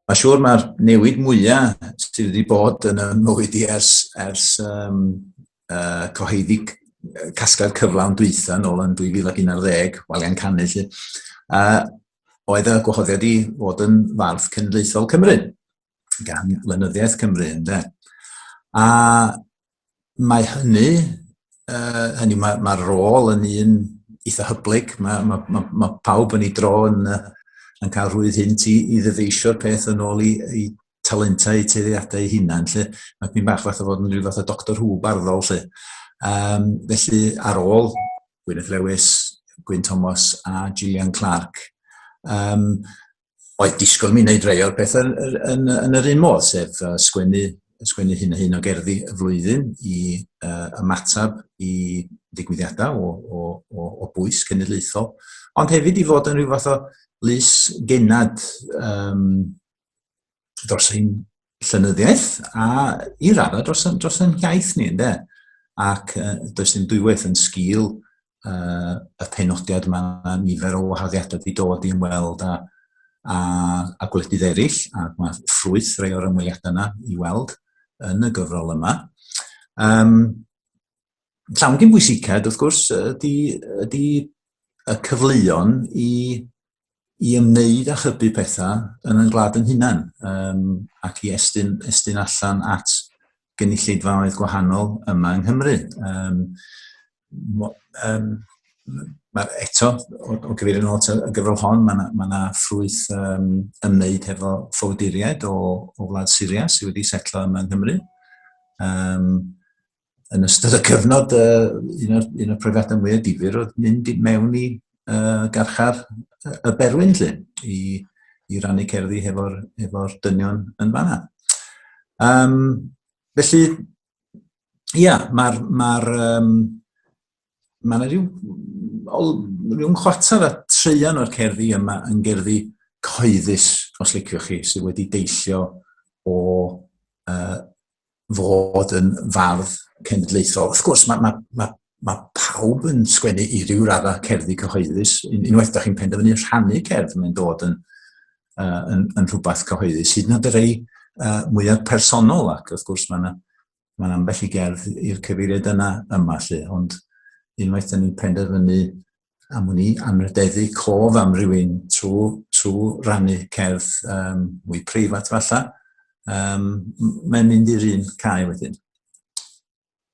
Mae'n siŵr mae'r newid mwyaf sydd wedi bod yn y mywyd i ers, ers um, uh, cyhoeddi casgad cyflawn dwytha nôl yn 2011, walian canu lle, uh, oedd y gwahoddiad i fod yn fardd cenedlaethol Cymru. gan lenyddiaeth Cymru, ynde? A mae hynny, uh, hynny mae'r mae rôl yn un eitha hyblyg, mae, mae, mae, mae pawb yn ei dro yn, yn cael rhwydd hynt i, i ddyfeisio'r peth yn ôl i, i talentau, i teiriadau ei hunan, lle mae pyn bach fath o fod yn rhyw fath o doctor hw barddol, lle. Um, felly, ar ôl Gwyneth Lewis, Gwyn Thomas a Gillian Clark, um, oedd disgwyl mi wneud rei o'r pethau yn, yn, yn, yn yr un modd, sef uh, sgwennu, sgwennu hyn a hyn o gerddi y flwyddyn i uh, ymateb i ddigwyddiadau o, o, o, o bwys cenedlaethol, ond hefyd i fod yn rhyw fath o lus genad um, dros ein llynyddiaeth a i raddau dros, dros ein hiaith ni, ynddo? Ac uh, does dim dwywaith yn sgil uh, y penodiad yma, nifer o wahaddiadau wedi dod i ymweld a, a, a gwledydd eraill, a mae ffrwyth rei o'r ymweliadau yna i weld yn y gyfrol yma. Um, llawn gyn bwysicad, wrth gwrs, ydy, ydy y cyfleon i i ymwneud â chybu pethau yn yn gwlad yn hunan um, ac i estyn, estyn allan at gynulleidfaoedd gwahanol yma yng Nghymru. Um, um, Mae'r eto, o, o gyfeir yn ôl y gyfrol hon, mae yna ma, na, ffrwyth um, ymwneud hefo ffowduriaid o, o wlad Syria sydd wedi setlo yma yng Nghymru. Um, yn ystod y cyfnod, uh, un o'r, un o'r profiadau mwyaf difyr oedd mynd i mewn i uh, garchar y berwyn lle, i, i rannu cerddi hefo'r efo dynion yn fanna. Um, felly, ia, yeah, mae'r... Ma um, mae yna rhyw, rhyw chwarter a treian o'r cerddi yma yn gerddi cyhoeddus, os liciwch chi, sydd wedi deillio o uh, fod yn fardd cenedlaethol. Wrth gwrs, mae, mae, mae, mae pawb yn sgwennu i ryw raddau cerddi cyhoeddus. Unwaith da chi'n penderfynu rhannu cerdd, mae'n dod yn, uh, yn, yn rhywbeth cyhoeddus. Hyd yn oed y rei uh, mwyaf personol, ac wrth gwrs mae yna ma ambell i gerdd i'r cyfeiriad yna yma lle, ond unwaith da ni'n penderfynu am wn i, amrydeddu cof am rywun trwy, trwy rannu cerdd um, mwy preifat falle, um, mae'n mynd i'r un cae wedyn.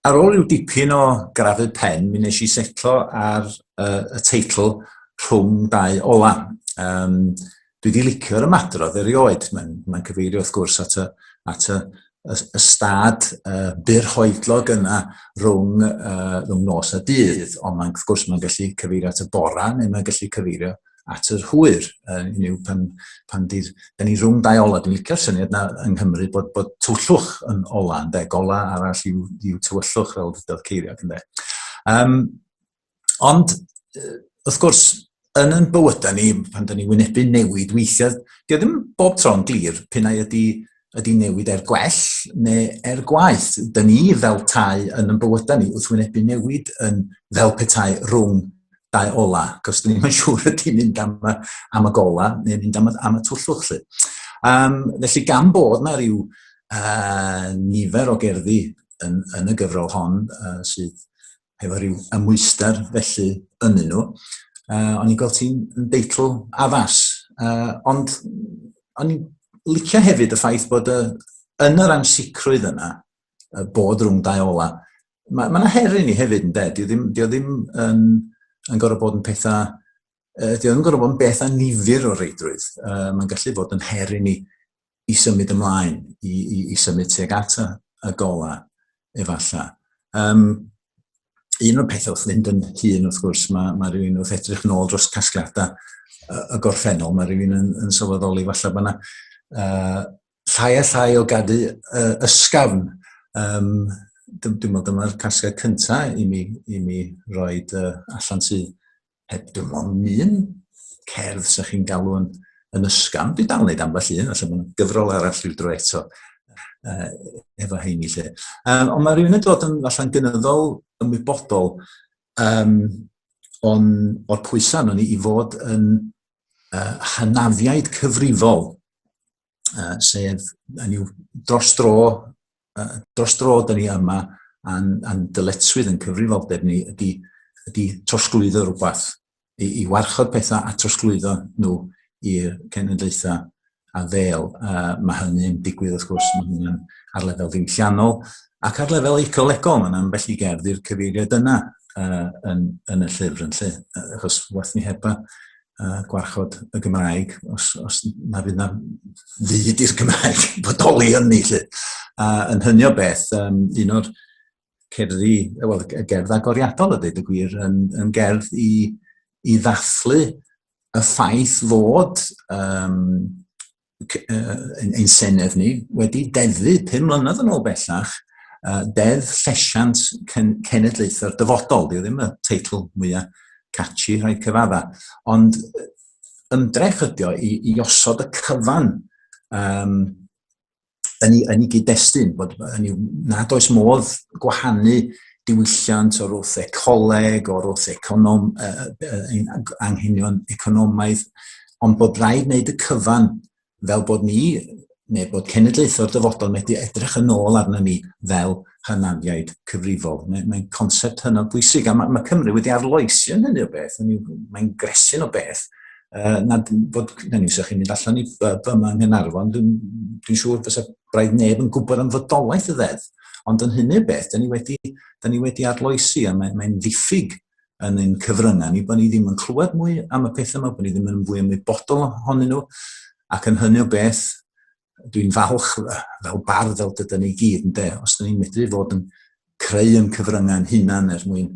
Ar ôl rhyw dipyn o grafu pen, mi nes i setlo ar uh, y teitl rhwng dau ola. Um, dwi wedi licio'r ymadrodd erioed. Mae'n mae cyfeirio wrth gwrs at y, at y, y, y stad uh, byr hoedlog yna rhwng, uh, rhwng nos a dydd, ond mae'n wrth gwrs mae'n gallu cyfeirio at y bora neu mae'n gallu cyfeirio at yr hwyr, uh, yw pan, pan dydd, da ni rhwng dau ola, dwi'n licio'r syniad na yng Nghymru bod, bod tywyllwch yn ola, ynddo, gola arall yw, yw tywyllwch fel dydodd ceiriog, ynddo. Um, Ond, wrth gwrs, yn yn bywydau ni, pan da ni wynebu newid weithiau, di ddim bob tro'n glir pyn ai ydy, ydy newid er gwell neu er gwaith. Da ni fel tai yn yn bywydau ni wrth wynebu newid yn fel petai rhwng dau ola, cos dyn ni'n siŵr ydy mynd am y, am y gola neu mynd am y, am y twllwch. Lle. Um, felly gan bod na rhyw uh, nifer o gerddi yn, yn y gyfrol hon uh, sydd efo rhyw ymwysder felly ynnu nhw. Uh, o'n i'n gweld ti'n deitl addas, uh, ond o'n i'n licio hefyd y ffaith bod y, yn yr ansicrwydd yna, y bod rhwng dau ola, mae yna ma her i ni hefyd yn dweud, di ddim, di ddim yn, yn gorau bod yn pethau uh, dwi yn gorfod yn beth a nifer o reidrwydd. Uh, Mae'n gallu bod yn her i ni i symud ymlaen, i, i, i symud tuag at y gola, efallai. Um, un o'r pethau wrth fynd yn hun, wrth gwrs, mae, mae rhywun wrth edrych nôl dros casgliadau y gorffennol, mae rhywun yn, yn sylweddoli falle bod yna uh, llai a llai o gadw uh, ysgafn. Um, dwi'n meddwl dyma'r casgliad cyntaf i mi, i mi roed uh, allan sydd heb dim ond un cerdd sy'n chi'n galw yn, yn ysgam. Dwi dal yn neud ambell un, felly mae'n gyfrol arall i'w dro eto uh, efo heini lle. Um, ond mae rhywun yn dod yn falle'n gynyddol ymwybodol um, on, o'r pwysau nhw'n i fod yn uh, hynafiaid cyfrifol uh, sef yn yw dros dro, uh, dros dro dyn ni yma a'n, a'n dyletswydd yn cyfrifoldeb ni ydy, ydy trosglwyddo rhywbeth, i, i warchod pethau a trosglwyddo nhw i'r cenedlaethau a ddel. Uh, mae hynny'n digwydd, wrth gwrs, mae hynny'n ar lefel ddiwylliannol ac ar lefel ecolegol, mae'n ambell i gerdd i'r cyfeiriad yna uh, yn, yn y llyfr yn lle, achos wath ni heba uh, gwarchod y Gymraeg, os, os na fydd na fyd i'r Gymraeg bodoli yn ni, lle. A yn hynny o beth, um, un o'r cerddi, wel, y gerdd agoriadol y dweud y gwir, yn, yn gerdd i, i ddathlu y ffaith fod um, ein, ein Senedd ni wedi deddu pum mlynedd yn ôl bellach uh, deddf llesiant cen cenedlaethau'r dyfodol. Dwi ddim y teitl mwyaf catchy rhai cyfadda. Ond ymdrech ydi o i, i osod y cyfan um, yn ei, yn ei gyd-destun, bod yn ei, nad oes modd gwahanu diwylliant o'r wrth ecoleg, o'r wrth econom, uh, uh, anghenion economaidd, ond bod rhaid wneud y cyfan fel bod ni, neu bod cenedlaethau'r dyfodol wedi edrych yn ôl arna ni fel hynafiaid cyfrifol. Mae'n mae concept hynod bwysig, a mae, mae Cymru wedi arloesi yn hynny o beth, mae'n gresyn o beth, uh, na bod, na ni, sa'ch chi'n mynd allan i byma yng Nghynarfon, dwi'n dwi siŵr fysa braidd neb yn gwybod am fodolaeth y ddedd, ond yn hynny o beth, da ni wedi, da ni wedi arloesi, a mae'n mae ddiffyg yn ein cyfryngau ni, bod ni ddim yn clywed mwy am y pethau yma, bod ni ddim yn fwy ymwybodol ohonyn nhw, ac yn hynny o beth, dwi'n falch fel bardd fel dyda ni gyd, yn de, os da ni'n medru fod yn creu yn cyfryngau'n hunan er mwyn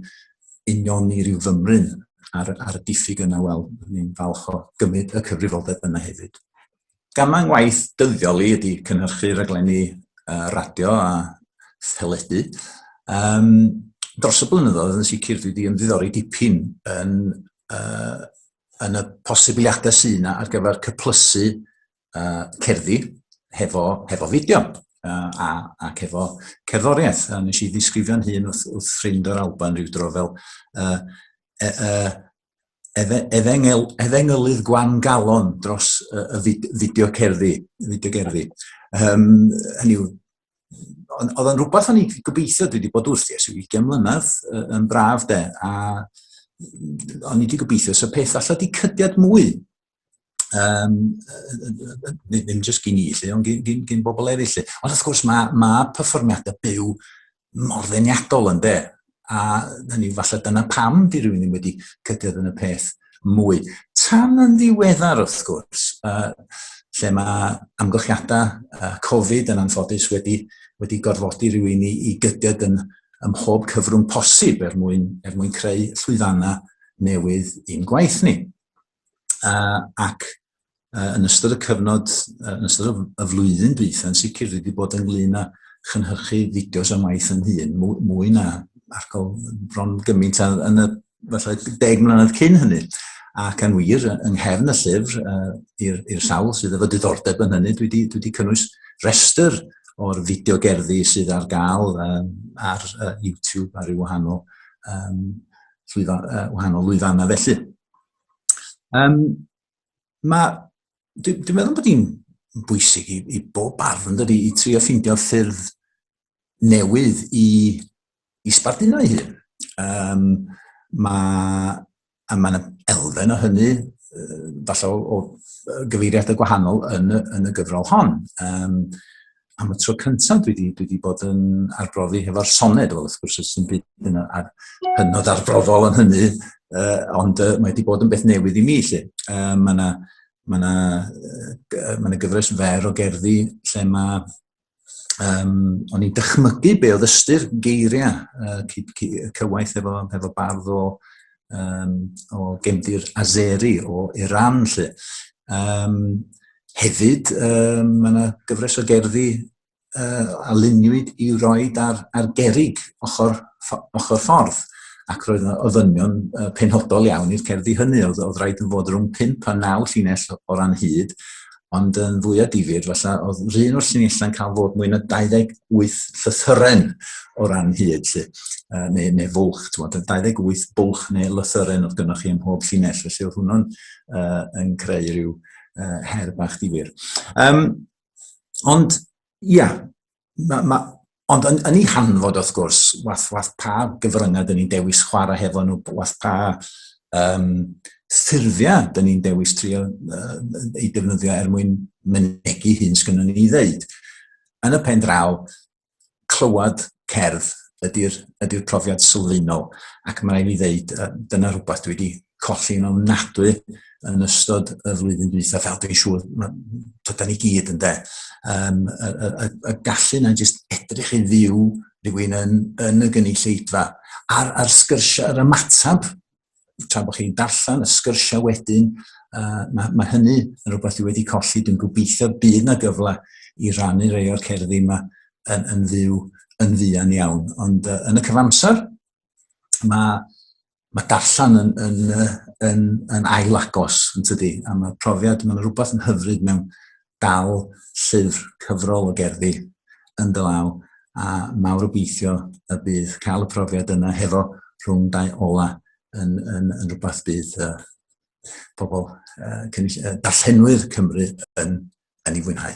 union i ryw fymryn ar, ar y diffyg yna, wel, ni'n falch o gymryd y cyfrifoldeb yna hefyd. Gam yng ngwaith dyddiol i ydy cynhyrchu rhaglenni uh, radio a theledu. Um, dros y blynyddoedd yn sicr dwi wedi ymddiddori dipyn yn, uh, yn y posibiliadau sy'n ar gyfer cyplysu uh, cerddi hefo, hefo fideo uh, a, ac hefo cerddoriaeth. A nes i ddisgrifio'n hun wrth, wrth ffrind o'r Alban rhyw dro fel uh, uh, uh, efengel, efengylydd gwan galon dros y, y fid, fideo cerddi, fideo gerddi. Um, hynny yw, oedd o'n rhywbeth o'n i'n gobeithio, dwi wedi bod wrth i ers 20 mlynedd yn braf de, a o'n i wedi gobeithio, so peth allai di cydiad mwy um, ddim jyst gyn i, lle, ond gyn, gyn, gyn bobl eraill. Lle. Ond wrth gwrs mae, mae perfformiadau byw mor ddeniadol yn de. A hynny, falle dyna pam di rhywun ddim wedi cydiodd yn y peth mwy. Tan yn ddiweddar, wrth gwrs, uh, lle mae amgylchiadau uh, Covid yn anffodus wedi, wedi gorfodi rhywun i, i gydiad yn, ym mhob cyfrwng posib er mwyn, er mwyn creu llwyfannau newydd i'n gwaith ni. uh, ac uh, yn ystod y cyfnod, uh, yn ystod y flwyddyn dwytha, yn sicr wedi bod ynglyn â chynhyrchu fideos am waith yn hun, mwy na argol bron gymaint yn y falle deg mlynedd cyn hynny. Ac yn wir, yng nghefn y llyfr, uh, i'r sawl sydd efo diddordeb yn hynny, dwi wedi, dwi wedi cynnwys restr o'r fideo gerddi sydd ar gael um, ar uh, YouTube ar ei wahanol, um, llwyfa, uh, wahanol lwyfannau felly. Um, mae, dwi'n dwi meddwl bod hi'n bwysig i, i bob arf yn dydi, i trio ffeindio ffyrdd newydd i, i sbarduno ei hun. Um, mae, a mae yna elfen o hynny, falle o, o gyfeiriadau gwahanol yn y, yn y gyfrol hon. Um, am y tro cyntaf dwi wedi, dwi wedi bod yn arbrofi hefo'r soned, wel, wrth gwrs, sy'n byd yn ar, hynod arbrofol yn hynny, uh, ond uh, mae wedi bod yn beth newydd i mi, lle. Uh, mae yna ma na, uh, ma na gyfres fer o gerddi lle mae um, o'n i'n dychmygu be oedd ystyr geiriau uh, cywaith efo, efo bardd o um, o gefndir Azeri o Iran, lle. Um, hefyd, um, mae yna gyfres o gerddi uh, a luniwyd i roi ar, ar gerig ochr, ochr ffordd ac roedd yna ofynion uh, penodol iawn i'r cerddi hynny. Oedd, oedd rhaid yn fod rhwng 5 a 9 llinell o ran hyd, ond yn fwyaf difyr, falle, oedd yr un o'r llinellau'n cael fod mwy na 28 llythyren o ran hyd, lle, uh, neu, neu fwlch, ti'n meddwl, 28 bwlch neu lythyren oedd gynnwch chi ym mhob llinell, felly oedd hwnnw'n uh, yn creu rhyw uh, her bach difyr. Um, ond, ia, yeah, ma, ma, ond yn, yn ei hanfod, wrth gwrs, wath, wath pa gyfryngau dyn ni'n dewis chwarae hefo nhw, wath pa um, ffurfiau dyn ni'n dewis trio uh, ei defnyddio er mwyn mynegu hyn sgynnon ni i ddeud. Yn y pen draw, clywed cerdd ydy'r ydy profiad sylfaenol. Ac mae'n rhaid i ddeud, dyna rhywbeth dwi wedi colli'n ofnadwy yn ystod y flwyddyn dwytha, fel dwi'n siŵr, tyda ni gyd yn de. Um, y, y, y, y gallu na jyst edrych i fyw rhywun yn, yn y gynulleidfa, a'r, ar sgyrsiau, yr ymateb, tra bod chi'n darllen, y sgyrsiau wedyn, uh, mae, mae hynny yn rhywbeth i wedi colli, dwi'n gobeithio bydd na gyfle i rannu rei o'r cerddi yma yn, yn fyw yn fuan iawn. Ond uh, yn y cyfamser, mae mae darllen yn, yn, yn, yn ail agos, yn tydi? A mae profiad, mae'n rhywbeth yn hyfryd mewn dal llyfr cyfrol o gerddi yn dy law, a mawr obeithio y bydd cael y profiad yna hefo rhwng dau ola yn, yn, yn rhywbeth bydd uh, pobl uh, cynnig, uh, darllenwyr Cymru yn, yn ei fwynhau.